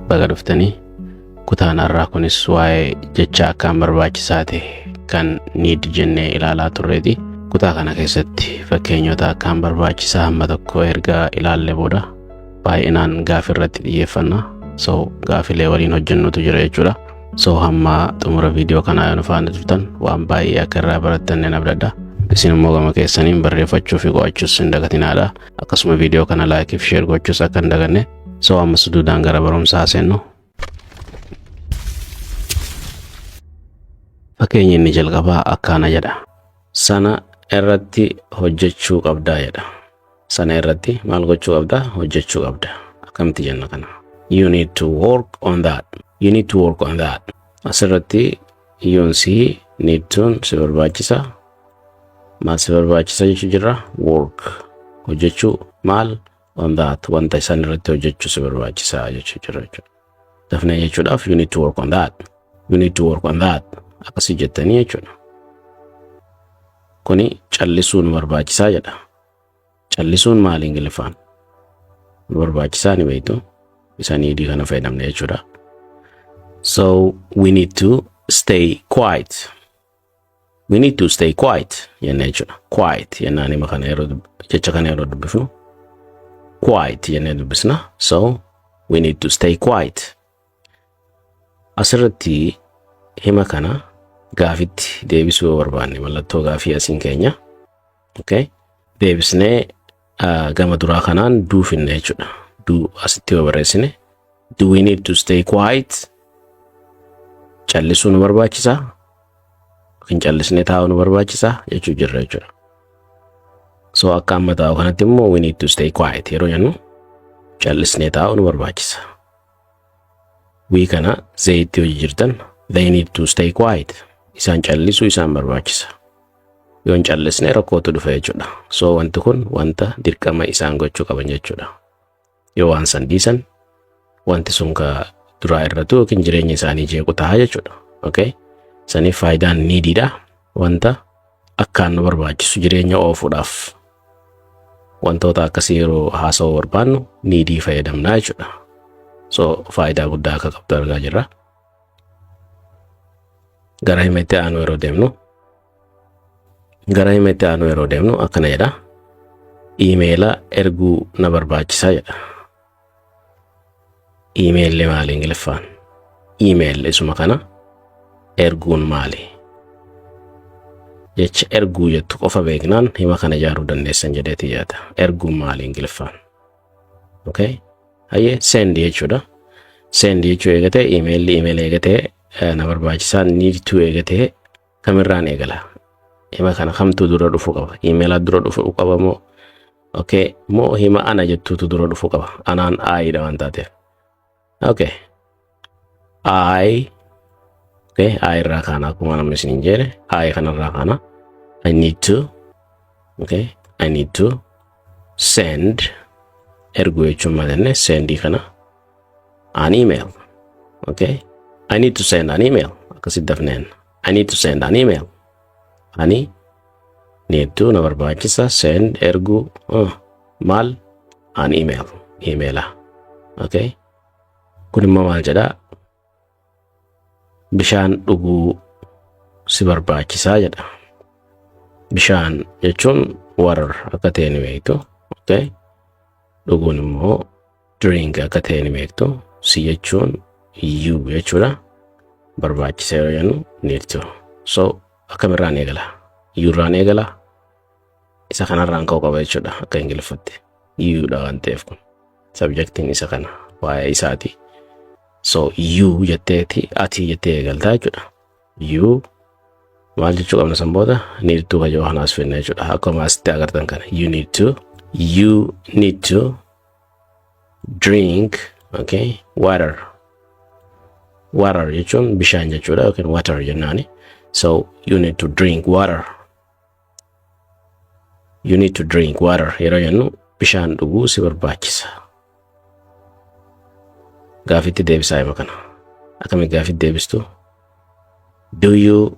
Baga dhuftanii kutaan har'aa kunis waa'ee jecha akkaan barbaachisaa ta'e kan niid jennee ilaalaa turreeti. Kutaa kana keessatti fakkeenyota akkaan barbaachisaa hamma tokko erga ilaalle booda baay'inaan gaafii irratti xiyyeeffanna. So gaafilee waliin hojjennutu jira jechuudha. So hamma xumura viidiyoo kanaa yoo nu faana turtan waan baay'ee akka irraa barattan nan abdadha. Isin immoo gama keessaniin barreeffachuu fi qo'achuus hin dagatinaadha. Akkasuma viidiyoo kana laayikii fi sheer gochuus akka hin daganne So amma suduudaan gara barumsaa seennu. Fakkeenya inni jalqabaa akkaana jedha. Sana irratti hojjechuu qabdaa jedha. Sana irratti maal gochuu qabdaa? Hojjechuu qabda. Akkamitti jenna kana? You need to work on that. You need to work on that. Asirratti yoon si need to'n si barbaachisa. Maal si barbaachisa jechuu jirra? Work. Hojjechuu maal? on that wanta isaan irratti hojjechuu si barbaachisa jechuu jira jechuudha. Dafnee jechuudhaaf you need to work on that. You need to work on that. Akkasii jettanii jechuudha. Kuni callisuu nu barbaachisaa jedha. Callisuun maali Ingiliffaan? Nu barbaachisaa ni beektu. Isa niidii kana fayyadamne jechuudha. So we need to stay quiet. We need to stay quiet jennee jechuudha. Quiet jennaan hima kana yeroo dub- jecha kana yeroo dubbifnu quiet jennee dubbisna. So we need to stay quiet. Asirratti hima kana gaafitti deebisuu yoo barbaanne mallattoo gaafii asiin keenya Okay. Deebisnee ah, gama duraa kanaan do finna jechuudha. Do asitti yoo barreessine. Do we need to stay quiet? Callisuu nu barbaachisa. Yookiin callisnee taa'uu nu barbaachisa jechuu jirra jechuudha. So akka amma taa'u kanatti immoo we need to stay quiet yeroo jennu callisnee taa'uu nu barbaachisa. We kana zeeyitti hojii jirtan they need to stay quiet. Isaan callisuu isaan barbaachisa. Yoo hin callisne rakkootu dhufa jechuudha. So wanti kun wanta dirqama isaan gochuu qaban jechuudha. Yoo waan san dhiisan wanti sun ka duraa irratu yookiin jireenya isaanii jeequ ta'a jechuudha. Okay? Saniif faayidaan niidiidha. Wanta akkaan nu barbaachisu jireenya oofuudhaaf wantoota akkasii yeroo haasa'uu barbaannu niidii fayyadamna jechuudha. So faayidaa guddaa akka qabdu argaa jirra. gara hima itti aanu yeroo deemnu gara hima itti aanu yeroo deemnu akkana jedha iimeela erguu na barbaachisa jedha iimeelli maali ingiliffaan iimeelli isuma kana erguun maali jecha erguu jettu qofa beeknaan hima kana ijaaruu dandeessan jedheeti yaada erguun maali ingiliffaan okay hayyee send jechuudha send jechuu eegatee imeelli imeela eegatee eh, na barbaachisaa niidtuu eegatee kamirraan eegala hima kana kamtu dura dhufu qaba imeela dura dhufu qaba moo okay moo hima ana jettuutu dura dhufu qaba anaan aayidha waan taateef Okay. I okay, I irraa kaana akkuma namni isin hin jeene I kanarraa kaana I need to okay, I need to send erguu jechuun maal jenne send kana an email okay, I need to send an email akkasitti dafneen I need to send an email. Ani need to na barbaachisa send erguu uh, maal an email emaila. Okay. Kun immoo maal jedhaa? Bishaan dhuguu si barbaachisaa jedha. Bishaan jechuun water akka ta'e ni beektu. Okay. Dhuguun immoo during akka ta'e ni beektu si jechuun you jechuudha barbaachisa yoo jennu need to so akkamirraan eegala yuurraan eegala isa kanarraan ka'uu qaba jechuudha akka ingiliffatti yuudha waan ta'eef kun sabjektiin isa kana waa'ee isaati so yuu jetteeti ati jettee eegaltaa jechuudha yuu maal jechuu qabna san booda need to kajoo kanaas finna jechuudha akkuma asitti agartan kana you need to you need to drink okay water water jechuun bishaan jechuudha yookiin water jennaani so you need to drink water you need to drink water yeroo jennu bishaan dhuguu si barbaachisa gaafitti deebisaa hima kana akkamitti gaafitti deebistu do you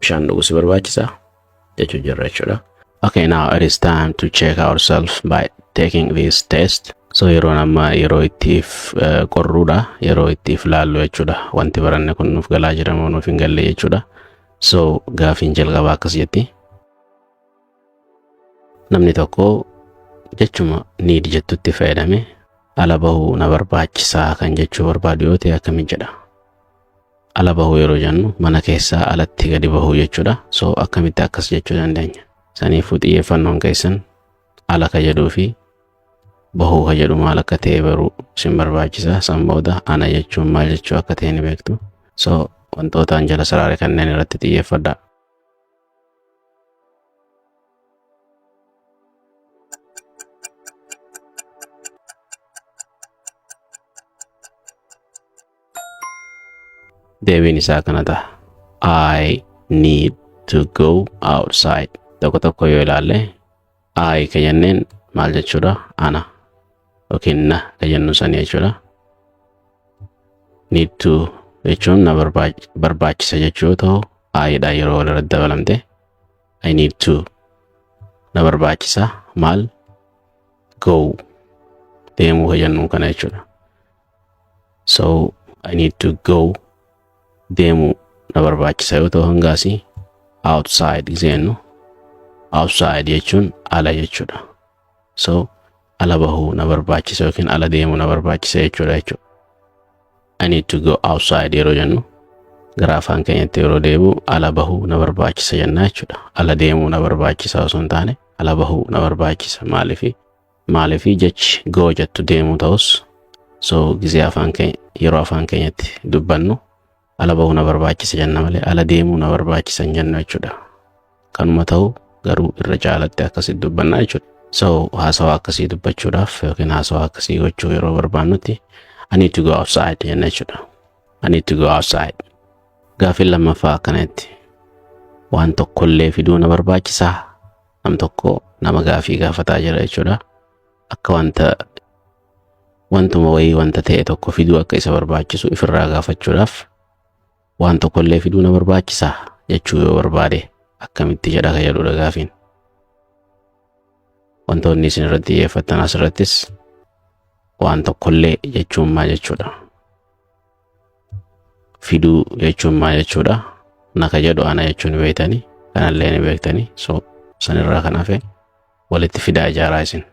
bishaan dhuguu si barbaachisa jechuu jirra jechuudha. Okay, now it is time to check ourselves by taking this test. So yeroon amma yeroo ittiif eh, qorruudha, yeroo ittiif laallu jechuudha. Wanti baranne kun nuuf galaa jira moo nuuf hin galle jechuudha. So gaafiin jalqabaa akkas jetti. namni tokko jechuma need jettutti fayyadame ala bahuu na barbaachisaa kan jechuu barbaadu yoo ta'e akkamiin jedha ala bahuu yeroo jennu mana keessaa alatti gadi bahuu jechuudha so akkamitti akkas jechuu dandeenya saniifuu xiyyeeffannoon keessan ala ka jedhuu fi bahuu ka jedhu maal akka ta'e baruu sin barbaachisa san booda ana jechuun maal jechuu akka ta'e ni beektu so wantootaan jala saraare kanneen irratti xiyyeeffadhaa deebiin isaa kana ta'a. I need to go outside. Tokko tokko yoo ilaalle I ka jenneen maal jechuudha? Ana yookiin na ka jennu sanii jechuudha. Need to jechuun na barbaach- barbaachisa jechuu yoo ta'u, I dha yeroo wal irratti dabalamte. I need to na barbaachisa maal go deemuu ka jennu kana jechuudha. so I need to go deemu na barbaachisa yoo ta'u hangaasi outside jennu outside jechuun ala jechuudha so ala bahuu na barbaachisa yookiin ala deemu na barbaachisa jechuudha jechuudha I need to go outside yeroo jennu gara afaan keenyatti yeroo deebi'u ala bahuu na barbaachisa jenna jechuudha ala deemuu na barbaachisa osoo hin taane ala bahuu na barbaachisa maaliifi Maaliif jechi goo jettu deemuu ta'us so gizee afaan keenya yeroo afaan keenyatti dubbannu ala bahuu na barbaachisa jenna malee ala deemuu na barbaachisa hin jennu jechuudha. Kanuma ta'u garuu irra caalatti akkasitti dubbannaa jechuudha. So haasawaa akkasii dubbachuudhaaf yookiin haasawaa akkasii gochuu yeroo barbaannutti I need to go outside jenna jechuudha. I need to go outside. Gaaffiin lammaffaa akkanatti waan tokkollee fiduu na barbaachisaa nam tokko nama gaafii gaafataa jira jechuudha. Akka wanta wantuma wayii wanta ta'e tokko fiduu akka isa barbaachisu ifirraa gaafachuudhaaf waan tokkollee fiduu na barbaachisa jechuu yoo barbaade akkamitti jedha ka jedhudha gaafiin. Wantoonni isin irratti xiyyeeffattan asirrattis waan tokkollee jechuun maa jechuudha. fiduu jechuun maa jechuudha naka jedhu ana jechuun beektanii kanallee ni beektanii so sanirraa kan hafe walitti fidaa ijaaraa isin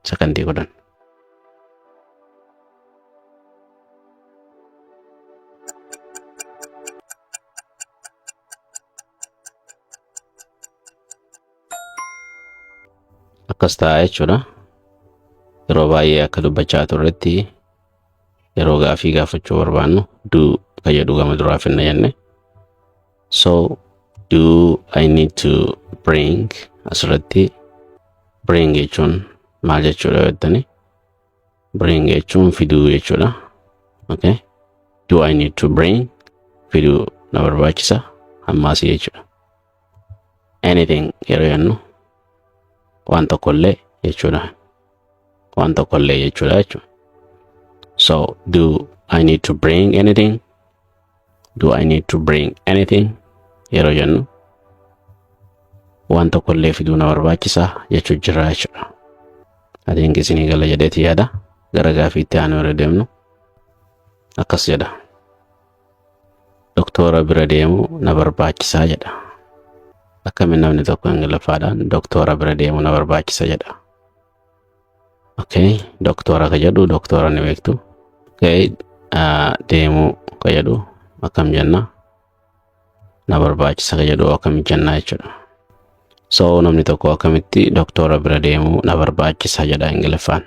sakandii kudhan. akkas ta'a jechuudha. Yeroo baay'ee akka dubbachaa turretti yeroo gaafii gaafachuu barbaannu do ka jedhu gama duraa finna jenne so do i need to bring asirratti bring jechuun maal jechuudha jettani bring jechuun fiduu jechuudha okay do i need to bring fiduu na barbaachisa ammaasii jechuudha anything yeroo jennu waan tokkollee jechuudha waan tokkollee jechuudha jechuudha so do I need to bring anything do I need to bring anything yeroo jennu waan tokkollee fiduu na barbaachisaa jechuu jirra jechuudha I think isinii gala jedheeti yaada gara gaafiitti aanu irra deemnu akkas jedha doktoora bira deemu na barbaachisaa jedha. Akkamiin namni tokko ingiliffaadhaan doktoora bira deemu na barbaachisa jedha. Okay, doktoora ka jedhu doktoora ni beektu. Okay, ah, deemuu ka jedhu akkam jenna? Na barbaachisa ka jedhu akkam jenna jechuudha. So namni tokko akkamitti doktoora bira deemu na barbaachisa jedha ingiliffaan.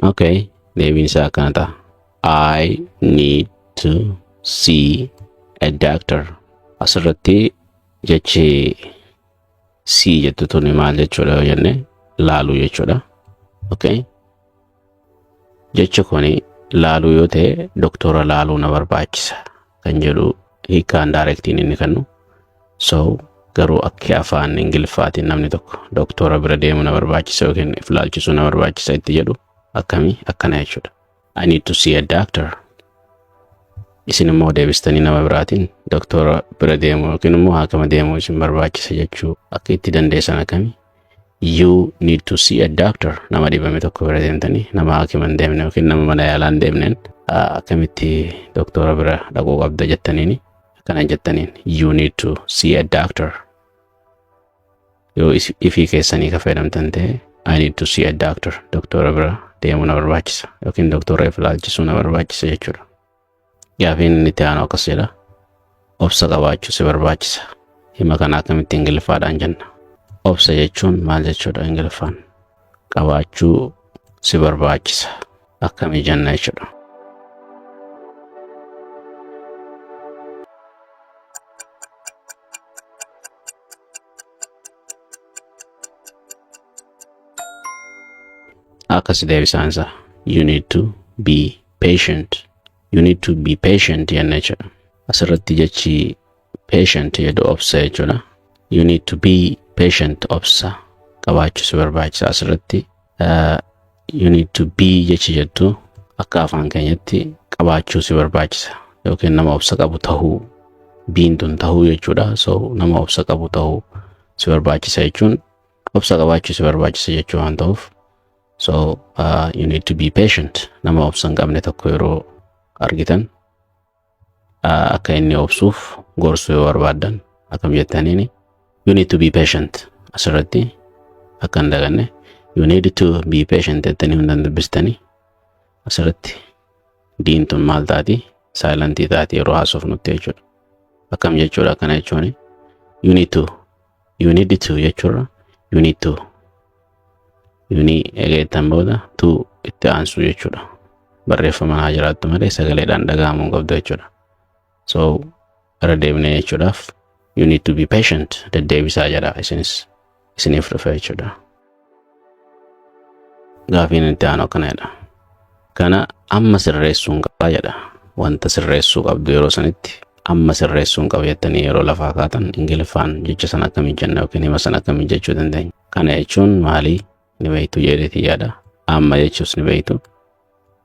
Okay, deebiin isaa akkana ta'a. I need to see a doctor. Asirratti jechi sii jettu tuni maal jechuudha yoo jenne laaluu jechuudha. Okay. Jechi kuni laaluu yoo ta'e doktora laaluu na barbaachisa kan jedhu hiikaan daayirektiin inni kennu. So garuu akka afaan ingiliffaatiin namni tokko doktora bira deemuu na barbaachisa yookiin if laalchisuu na barbaachisa itti jedhu akkamii akkana jechuudha. I need to see a doctor. Isin immoo deebistanii nama biraatiin doktora bira deemuu yookiin immoo haakama deemuu isin barbaachisa jechuu akka itti dandeessan akkami? You need to see a doctor. Nama dhibame tokko bira deemtanii nama haakima hin deemne yookiin nama mana yaalaa hin deemneen ah, akkamitti doktora bira dhaquu qabda jettaniini akkana jettaniin you need to see a doctor. Yoo is- ifii keessanii ka fayyadamtan ta'e I need to see a doctor. Doktora bira deemuu na barbaachisa yookiin doktora if ilaalchisuu na barbaachisa jechuudha. Gaafiin inni itti aanu akkas jedha. Obsa qabaachuu si barbaachisa. Hima kana akkamitti ingiliffaadhaan jenna. Obsa jechuun maal jechuudha ingiliffaan? Qabaachuu si barbaachisa. akkamii jenna jechuudha. Akkas deebisaan isaa. You need to be patient. You need to be patient jenna jechuudha. Asirratti jechi patient jedhu obsa jechuudha. You need to be patient obsa qabaachuu si barbaachisa asirratti. Uh, you need to be jechi jettu akka afaan keenyatti qabaachuu si barbaachisa yookiin nama obsa qabu tahuu biin tun tahuu jechuudha. So nama obsa qabu tahuu si barbaachisa jechuun obsa qabaachuu si barbaachisa jechuu waan ta'uuf. So uh, you need to be patient nama obsa hin qabne tokko yeroo argitan akka inni obsuuf gorsuu yoo barbaaddan akkam jettaniini you need to be patient asirratti akka hin daganne you need to be patient jettanii hundan dubbistanii asirratti diin tun maal taati saayilantii taati yeroo haasofnutti jechuudha akkam jechuudha akkana jechuun you need to You need to jechuurra you need to. You need eegeettan booda to itti aansuu jechuudha. Barreeffama haa jiraattu malee sagaleedhaan dhaga'amuu hin qabdu jechuudha. So irra deebinee jechuudhaaf you need to be patient deddeebisaa jedha isinis isiniif dhufe jechuudha. Gaafiin itti aanu akkana jedha. Kana amma sirreessuun qaba jedha. Wanta sirreessuu qabdu yeroo sanitti amma sirreessuun qaba jettanii yeroo lafaa kaatan ingiliffaan jecha sana akkamii jenna yookiin hima sana akkamii jechuu dandeenya. Kana jechuun maalii ni beektu jedheeti yaada. Amma jechuus ni beektu.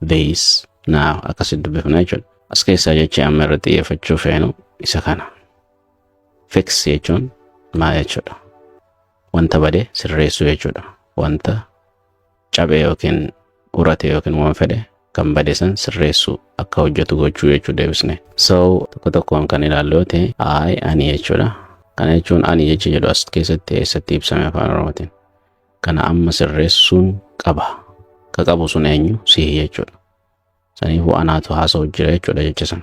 base now akkasitti dubbifna jechuudha. As keessaa jechi amma irra xiyyeeffachuu feenu isa kana. Fix jechuun maal jechuudha? Wanta bade sirreessuu jechuudha. Wanta cabee yookiin urate yookiin waan fedhe kan bade san sirreessuu akka hojjetu gochuu jechuu deebisne. So tokko tokkoon kan ilaallu yoo ta'e I ani jechuudha. Kana jechuun ani jecha jedhu as keessatti eessatti ibsame afaan oromootiin. kana amma sirreessuun qaba ka qabu sun eenyu sihi jechuudha saniifuu anaatu haasa'u jira jechuudha jecha sana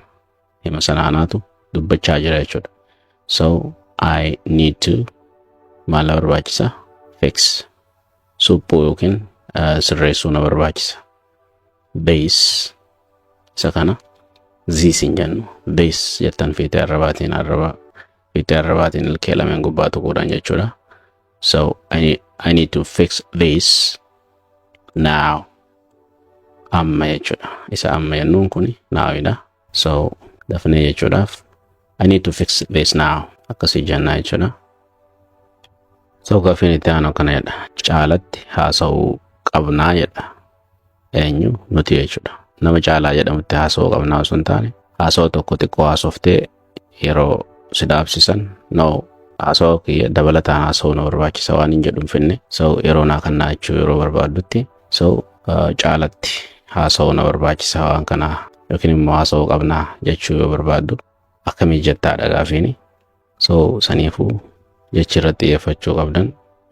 hima sana anaatu dubbachaa jira jechuudha so i need to maal na barbaachisa fix suphuu yookiin uh, sirreessuu na barbaachisa base isa kana ziis hin jennu base jettan fiitee arrabaatiin arraba fiitee arrabaatiin ilkee lameen gubbaa tuquudhaan jechuudha So I need, I need to fix this now. Amma jechuudha. Isa amma jennuun kun naawidha. So dafnee jechuudhaaf I need to fix this now. Akkasii jennaa jechuudha. So gaafiin itti aanu kana jedha. Caalatti haasa'uu qabnaa jedha. eenyu nuti jechuudha. Nama caalaa jedhamutti haasawuu qabna osoo hin taane haasawa tokko xiqqoo haasoftee yeroo si dhaabsisan no haasawa kiyya dabalataan haasawuu na barbaachisa waan hin jedhu hin finne so yeroo naa kannaa jechuu yeroo barbaaddutti so caalatti haasawuu na barbaachisa waan kanaa yookiin immoo haasawuu qabnaa jechuu yoo barbaaddu akkamii jettaadha gaafiini. So saniifuu jechi irratti xiyyeeffachuu qabdan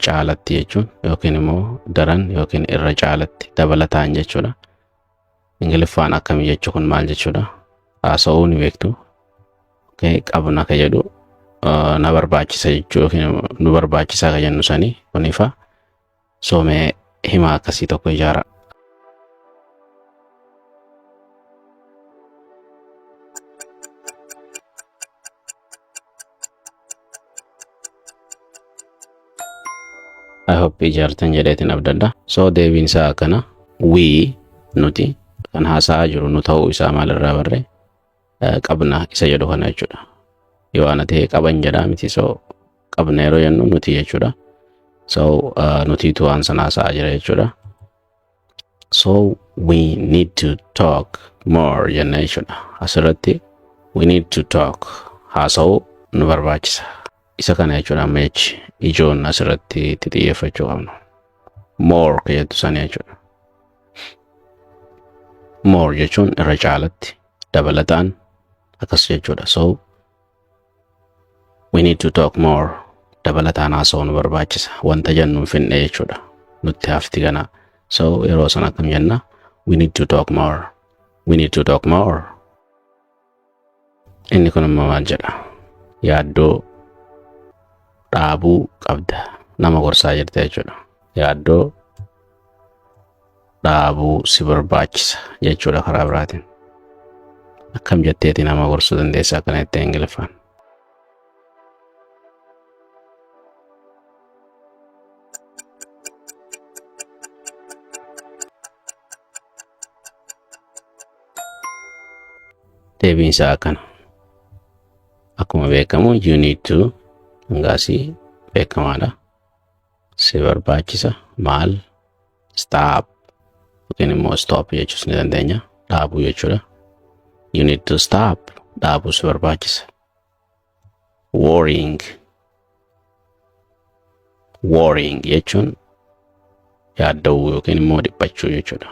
caalatti jechuun yookiin immoo daran yookiin irra caalatti dabalataan jechuudha. Ingiliffaan akkami jechu kun maal jechuudha? Haasa'uu ni beektu. Okay, qabna ka jedhu uh, na barbaachisa jechuu yookiin nu barbaachisa ka jennu sanii kunifa. soomee himaa akkasii tokko ijaara. I hope ijaartan jedheetiin abdadha. So deebiin isaa akkana we nuti kan haasa'aa jiru nu ta'uu isaa maalirraa barree eh, qabna isa jedhu kana jechuudha. Yoo ana ta'e qaban jedha miti so qabna yeroo jennu nuti jechuudha. So eh, nutiitu waan sana haasa'aa jira jechuudha. So we need to talk more jenna jechuudha. Asirratti we need to talk haasa'uu nu barbaachisa. Isa kana jechuudha amma jechi ijoon asirratti itti xiyyeeffachuu qabnu. More kan jettu sana jechuudha. More jechuun irra caalatti dabalataan akkas jechuudha. So we need to talk more dabalataan haasa'uu nu barbaachisa. Wanta jennu hin finne jechuudha. Nutti hafti kana. So yeroo sana akkam jenna? We need to talk more. We need to talk more. Inni kun immoo maal jedha? Yaaddoo dhaabuu qabda. Nama gorsaa jirta jechuudha. Yaaddoo dhaabuu si barbaachisa jechuudha karaa biraatiin. Akkam jetteeti nama gorsuu dandeessa akkana jettee Ingiliffaan. deebiin isaa akkana akkuma beekamu you need to hangaasii beekamaadha si barbaachisa maal stop yookiin immoo stop jechuus ni dandeenya dhaabuu jechuudha you need to stop dhaabuu si barbaachisa worrying worrying jechuun yaadda'uu yookiin immoo dhiphachuu jechuudha.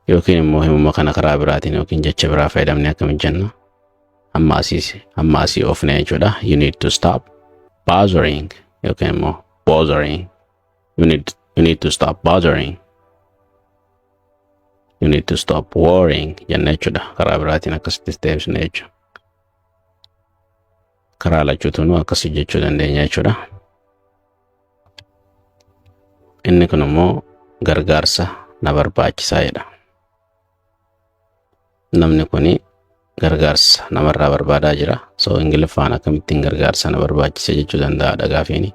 Yookiin immoo himuma kana karaa biraatiin yookiin jecha biraa fayyadamne akkamitti jenna? Amma asiis amma asii oofne jechuudha. You need to stop bothering yookiin immoo bothering You need, you need to stop bothering. You need to stop worrying jenna jechuudha. Karaa biraatiin akkasittis deebisna jechuudha. Karaa lachuutunuu akkasii jechuu dandeenya jechuudha. Inni kun immoo gargaarsa na barbaachisaa jedha. Namni kun gargaarsa namarraa barbaadaa jira. So Ingiliffaan akkamittiin gargaarsa na barbaachisa jechuu danda'a dhagaafiini.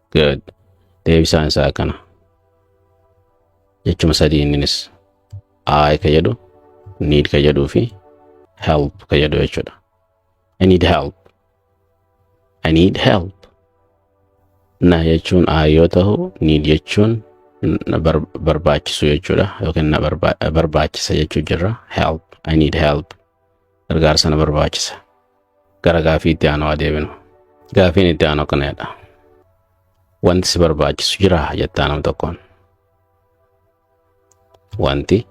Good. Deebisaan isaa kana. Jechuma sadii inninis I ka jedhu, need ka jedhuu fi help ka jedhu jechuudha. I need help. I need help. Na jechuun I yoo ta'u, need jechuun na bar- barbaachisu jechuudha yookiin na barba- barbaachisa jechuu jirra. Help. I need help. gargaarsa na barbaachisa. Gara gaafii itti aanu haa deebinu. Gaafiin itti aanu akkanadha. Wanti si barbaachisu jira jettaa nam tokkoon. Wanti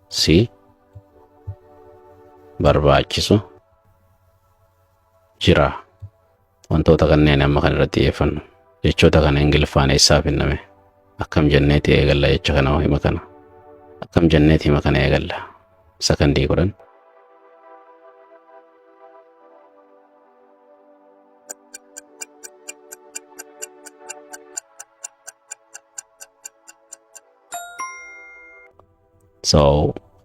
si barbaachisu jira. Wantoota kanneen amma kan irratti xiyyeeffannu jechoota kana Ingiliffaan eessaa finname akkam jenneeti eegalla jecha kana hoo hima kana akkam jenneeti hima kana eegalla sakandii kudhan so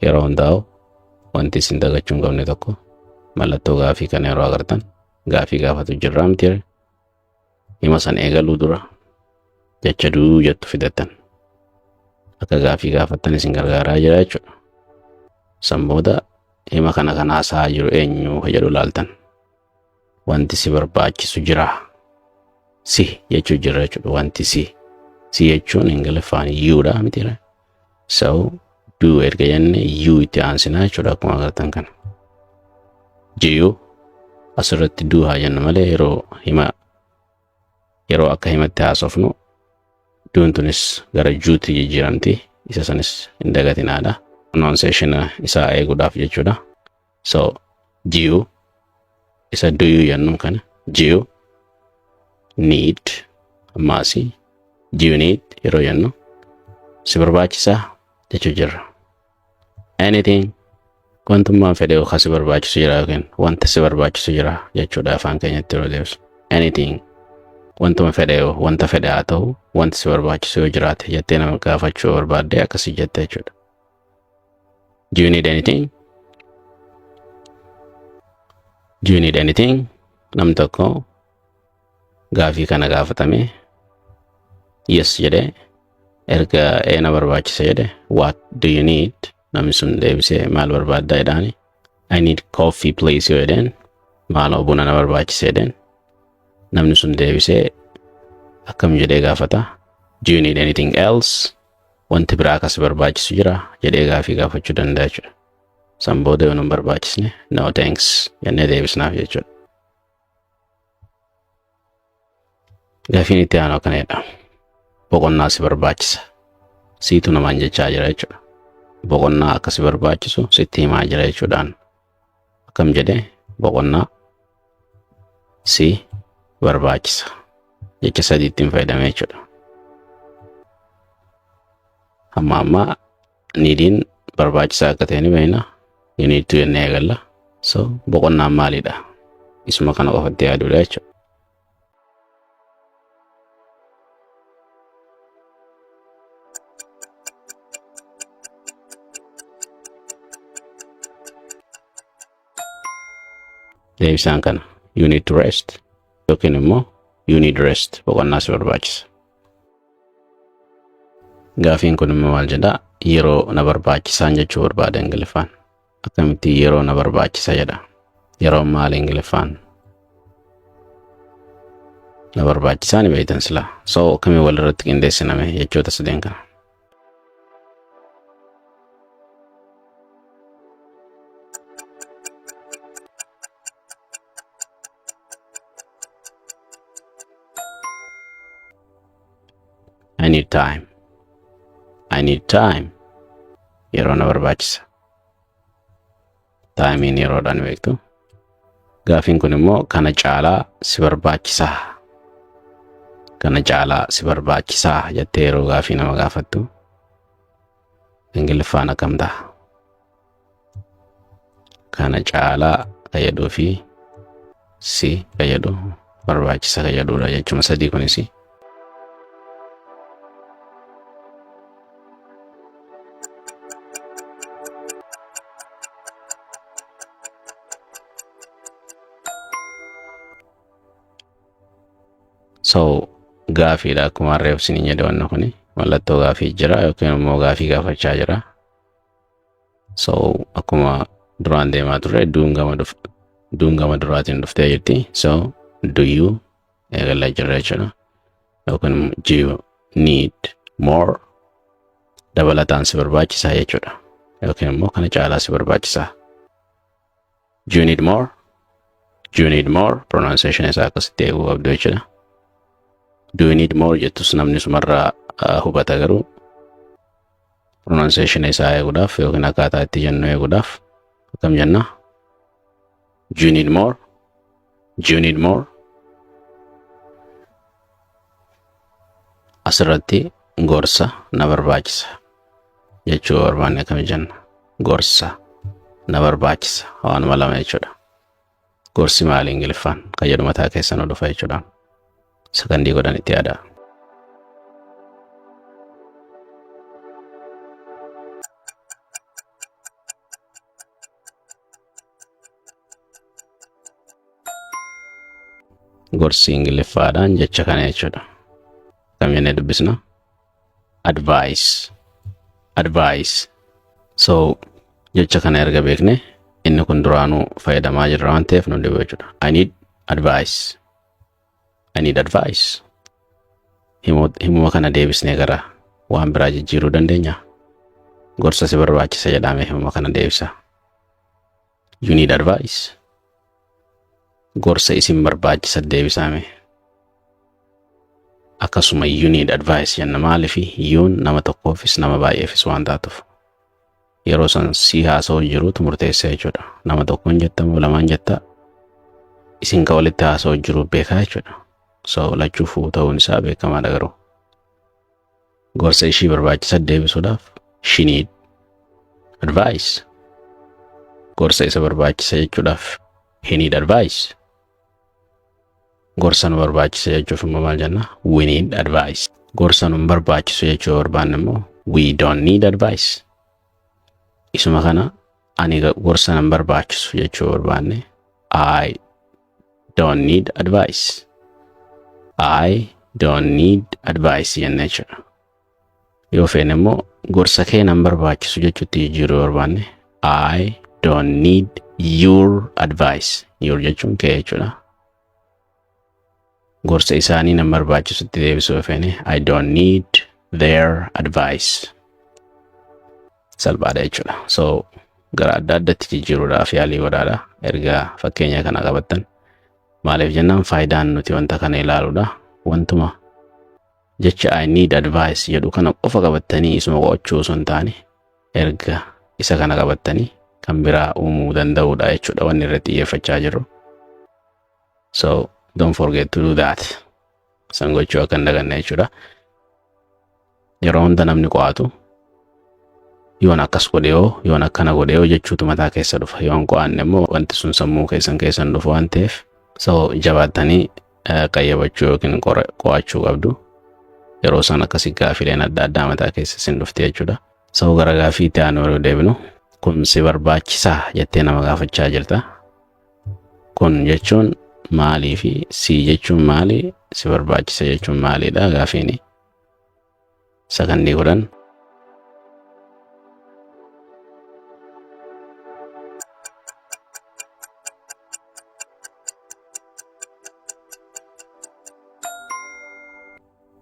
yeroo hundaa'u wanti isin dagachuu hin qabne tokko mallattoo gaafii kana yeroo agartan gaafii gaafatu jirraa miti ree? hima san eegaluu dura jecha duu jettu fidattan akka gaafii gaafattan isin gargaaraa jira jechuudha. San booda hima kana kan haasa'aa jiru eenyu ka jedhu laaltan wanti si barbaachisu jira si jechuu jirra jechuudha wanti si si jechuun ingiliffaan yuudha miti ree? So do erga jenne you itti aansinaa jechuudha akkuma agartan kana. Jiyu asirratti do haa jennu malee yeroo hima yeroo akka himatti haasofnu duun tunis gara juutti jijjiiramti isa sanis hin dagatinaadha. Pronunciation isaa eeguudhaaf jechuudha. so ji'u isa duyu yannuu kana ji'u need ammaasi ji'u need yeroo yannu si barbaachisaa jechuu jirra anything wantummaan fedhe yookaan si barbaachisu jira yookiin wanta si barbaachisu jira jechuudha afaan keenyatti yeroo deebisu anything wantuma fedhe yoo wanta fedhe haa ta'u wanti si barbaachisu yoo jiraate jettee nama gaafachuu barbaadde akkasii jette jechuudha Do you need anything? Do you need anything? Nam tokko gaafii kana gaafatame yes jedhe erga eena barbaachisa jedhe what do you need? Namni sun deebisee maal barbaadda jedhaani I need coffee please yoo jedheen maaloo buna na barbaachisa jedheen namni sun deebisee akkam jedhee gaafata do you need anything else? wanti biraa akkas barbaachisu jira jedhee gaafii gaafachuu danda'a jechuudha. San booda yoo nun barbaachisne no thanks jennee deebisnaaf jechuudha. Gaafiin itti aanu akkana jedha. Boqonnaa si barbaachisa. Siitu namaan jechaa jira jechuudha. Boqonnaa akka si barbaachisu sitti himaa jira jechuudhaan akkam jedhe boqonnaa si barbaachisa jecha sadii ittiin fayyadamee jechuudha. Amma amma niidiin barbaachisaa akka ta'e ni beekna. You need to jennee eegalla. So boqonnaan maalidha? Isuma kana qofatti yaaduudha jechuudha. deebisaan kana you need to rest yookiin immoo you need rest boqonnaa si barbaachisa. Gaafiin kun immoo maal jedhaa yeroo na barbaachisaan jechuu barbaada Ingiliffaan. akkamitti yeroo na barbaachisa jedha yeroon maal ingiliffaan na barbaachisaa ni beektan silaa soo akkamiin walirratti qindeessiname jechoota sadeen kana I need time. I need time. Yeroo na barbaachisa. taayimiin yeroodhaan beektu. Gaafiin kun immoo kana caalaa si barbaachisaa kana caalaa si barbaachisaa jettee yeroo gaafii nama gaafattu ingiliffaan akkam ta'a. Kana caalaa fayyaduu fi si ka jedhu barbaachisa ka jedhudha jechuma sadii kunis so gaafiidha akkuma reefsiniin jedhe wanna kuni mallattoo gaafii jira yookiin immoo gaafii gaafachaa jira so akkuma duraan deemaa turre duun gama dhuf duun gama duraatiin dhuftee jirti so do you eegalaa jirra jechuudha yookiin immoo do you need more dabalataan si barbaachisaa jechuudha yookiin immoo kana caalaa si barbaachisaa Do you need more? Do you need more? Pronunciation isaa akkasitti eeguu qabdu jechuudha. Do you need more jettus namni sumarraa ah, hubata garuu pronunciation isaa eeguudhaaf yookiin akkaataa itti jennu eeguudhaaf akkam jenna? Do you need more? Do you need more? asirratti gorsa na barbaachisa jechuu yoo barbaanne akkami jenna gorsa na barbaachisa waanuma lama jechuudha gorsi maali ingiliffaan kan jedhu mataa keessa nu dhufa jechuudha sakandii godhan itti yaadaa gorsi ingiliffaadhaan jecha kana jechuudha. Kamiin dubbisna? Advice. Advice. So jecha kana erga beekne inni kun duraanuu fayyadamaa jirra waan ta'eef nu dhibu jechuudha. I need advice. I need advice. Himu- Himuma kana deebisnee gara waan biraa jijjiiruu dandeenya. Gorsa si barbaachisa jedhame himuma kana deebisa. You need advice. Gorsa isin barbaachisa deebisaame. Akkasuma you need advice jenna maaliif yuun nama tokkoofis nama baay'eefis waan taatuuf. yeroo san sii haasa'uun jiruutu murteessa jechuudha. Nama tokkoon jetta moo lamaan jetta isin ka walitti haasa'u jiru beekaa jechuudha. So lachuu fuu ta'uun isaa beekamaadha garuu. Gorsa ishii barbaachisa deebisuudhaaf she need advice. Gorsa isa barbaachisa jechuudhaaf he need advice. gorsa nu barbaachisa jechuuf immoo maal jenna we need advice gorsa nu hin barbaachisu jechuu barbaanne immoo we don't need advice isuma kana ani ga- gorsa nan barbaachisu jechuu barbaanne I don't need advice I don't need advice jenna jechuudha Yoo feene immoo gorsa kee nan barbaachisu jechuutti jijjiiruu yoo barbaanne I don't need your advice. Your jechuun kee jechuudha. Gorsa isaanii nan barbaachisutti deebisuu yoo feene I don't need their advice. Salphaadha jechuudha. So gara adda addatti jijjiiruudhaaf yaalii godhaadha. Erga fakkeenya kana qabattan maaliif jennaan faayidaan nuti wanta kana ilaaluudha. Wantuma jecha I need advice jedhu kana qofa qabattanii isuma qo'achuu osoo hin taane erga isa kana qabattanii kan biraa uumuu danda'uudha jechuudha wanni irratti xiyyeeffachaa jirru. So don't forget to do that. San gochuu akka hin daganne jechuudha. Yeroo hunda namni qo'atu yoon akkas godhe yoo yoon akkana godhe yoo jechuutu mataa keessa dhufa yoon qo'anne immoo wanti sun sammuu keessan keessan dhufu waan ta'eef so jabaattanii qayyabachuu yookiin qo'achuu qabdu. Yeroo isaan akkasii gaafiileen adda addaa mataa keessa isin dhufte jechuudha. Sabuu gara gaafii itti aanu yeroo deebinu kun si barbaachisaa jettee nama gaafachaa jirta. Kun jechuun maalii fi si jechuun maali si barbaachisa jechuun maaliidha gaafiini. Sakandii kudhan.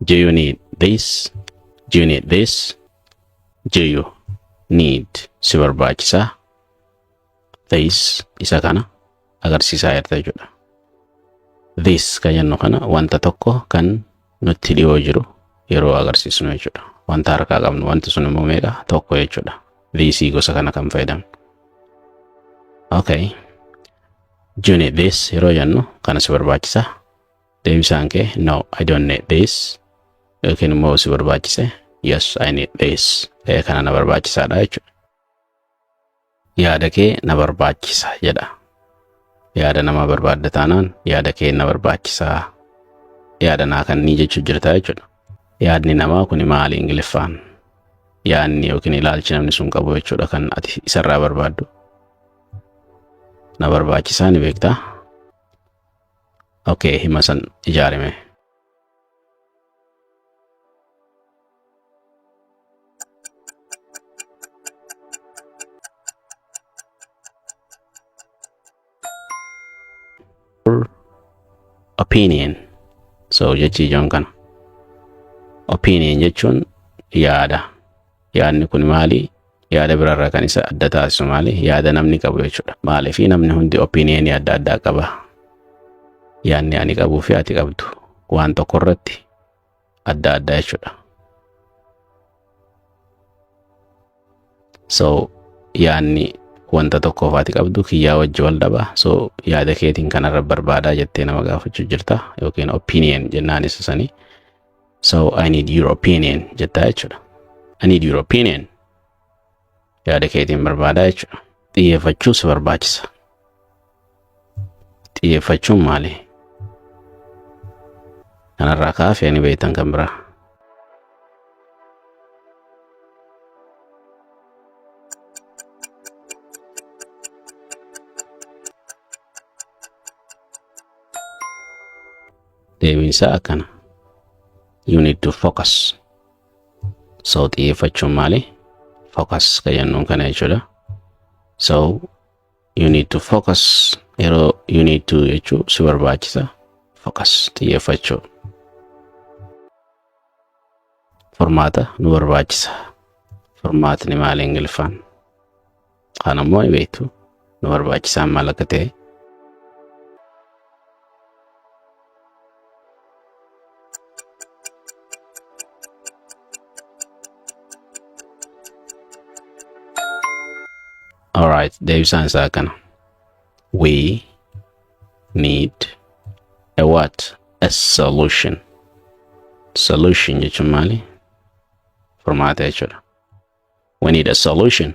Do you need this? Do you need this? Do you need si barbaachisaa? this isa kana agarsiisaa jirta jechuudha. This kan jennu kana wanta tokko kan nutti dhiyoo jiru yeroo agarsiisnu jechuudha. Wanta harkaa qabnu wanti sun immoo meeqa tokko jechuudha. This gosa kana kan fayyadamnu. Okay. Juni this yeroo jennu kana si barbaachisa. Deebisaan kee no I don't need this yookiin immoo si barbaachise yes I need this kana na barbaachisaadha jechuudha. yaada kee na barbaachisa jedha. Yaada namaa barbaadda taanaan yaada kee na barbaachisa yaada naa kannii jechuu jirta jechuudha. Yaadni namaa kun maali Ingiliffaan? Yaadni yookiin ilaalchi namni sun qabu jechuudha kan ati isarraa barbaaddu. Na barbaachisaa ni beektaa? Okay, hima san ijaarime. opinion so jechi ijoon kana opinion jechuun yaada Yaadni kun maali? Yaada biraarraa kan isa adda taasisu maali? Yaada namni qabu jechuudha. Maaliif namni hundi opiniyenii adda addaa qaba. Yaadni ani qabuu fi ati qabdu waan tokko irratti adda addaa jechuudha. So yaadni wanta tokkoof ati qabdu kiyyaa wajji wal dhaba. So yaada keetiin kanarra barbaadaa jettee nama gaafachuu jirta yookiin opinion jennaan isa sanii. So I need your opinion jettaa jechuudha. I need your opinion. Yaada keetiin barbaadaa jechuudha. Xiyyeeffachuu si barbaachisa. Xiyyeeffachuun maali? Kanarraa kaafee ni beektan kan biraa. Deebiin isaa akkana. You need to focus. So xiyyeeffachuun maali? Focus kan jennuun kana jechuudha. So you need to focus yeroo you need to jechuu si barbaachisa. Focus xiyyeeffachuu. furmaata nu barbaachisa. Furmaatni maali Ingiliffaan? Kaan ammoo ni beektu. Nu barbaachisaan maal akka ta'e. Alright, deebisaan isaa kana. We need a what a solution solution jechuun maali furmaata jechuudha we need a solution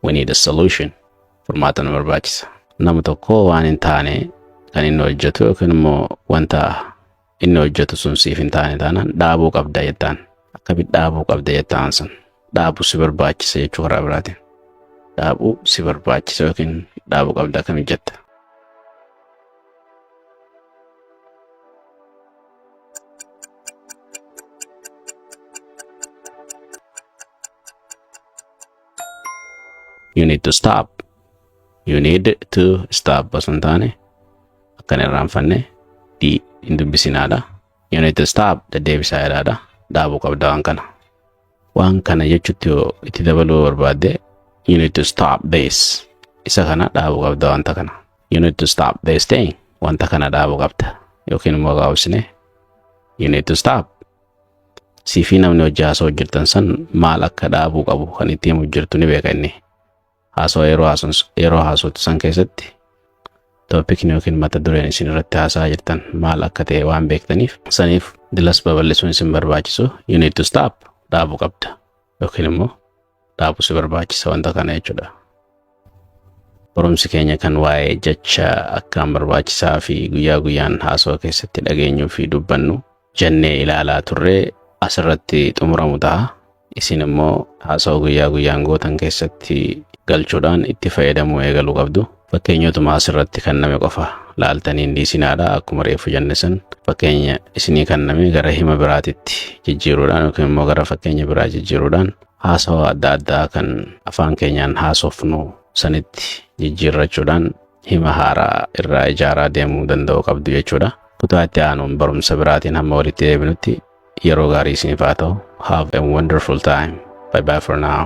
we need a solution furmaata nu barbaachisa nama tokko waan hin taane kan inni hojjetu yookiin immoo wanta inni hojjetu sun siif hin taane taanaan dhaabuu qabda jettaan. Akkamitti dhaabuu qabda jettaan sun dhaabuu si barbaachisa jechuu karaa biraatiin. Dhaabuu si barbaachisa yookiin dhaabuu qabda akkamitti jetta. You need to stop. you need to stop osoo hin taane akkan irraanfanne di hin dubbisinaadha you need to stop deddeebisaa jedhaadha dhaabuu qabda waan kana waan kana jechuutti yoo itti dabaluu barbaadde you need to stop this isa kana dhaabuu qabda wanta kana you need to stop this thing wanta kana dhaabuu qabda yookiin immoo gaabsine you need to stop siifii namni hojii haasoo hojjetan san maal akka dhaabuu qabu kan itti himu jirtu ni beeka inni Haasawaa yeroo haasons- yeroo haasoftan keessatti toopikni yookiin mata dureen isin irratti haasa'aa jirtan maal akka ta'e waan beektaniif saniif dilas babal'isuun isin barbaachisu you need to stop dhaabuu qabda yookiin immoo dhaabuu si barbaachisa wanta kana jechuudha. Barumsi keenya kan waa'ee jecha akkaan barbaachisaa fi guyyaa guyyaan haasawaa keessatti dhageenyuu fi dubbannu jennee ilaalaa turre asirratti xumuramu ta'a. Isin immoo haasawaa guyyaa guyyaan gootan keessatti galchuudhaan itti fayyadamuu eegaluu qabdu. Fakkeenyotuma asirratti kenname qofa laaltanii hin dhiisinaadha. Akkuma reeffu jenne san fakkeenya isinii kenname gara hima biraatitti jijjiiruudhaan yookiin immoo gara fakkeenya biraa jijjiiruudhaan haasawaa adda addaa kan afaan keenyaan haasofnu sanitti jijjiirrachuudhaan hima haaraa irraa ijaaraa deemuu danda'uu qabdu jechuudha. Kutaa itti aanuun barumsa biraatiin hamma walitti deebinutti yeroo gaarii isiniif haa ta'u. Have a wonderful time. Bye bye for now.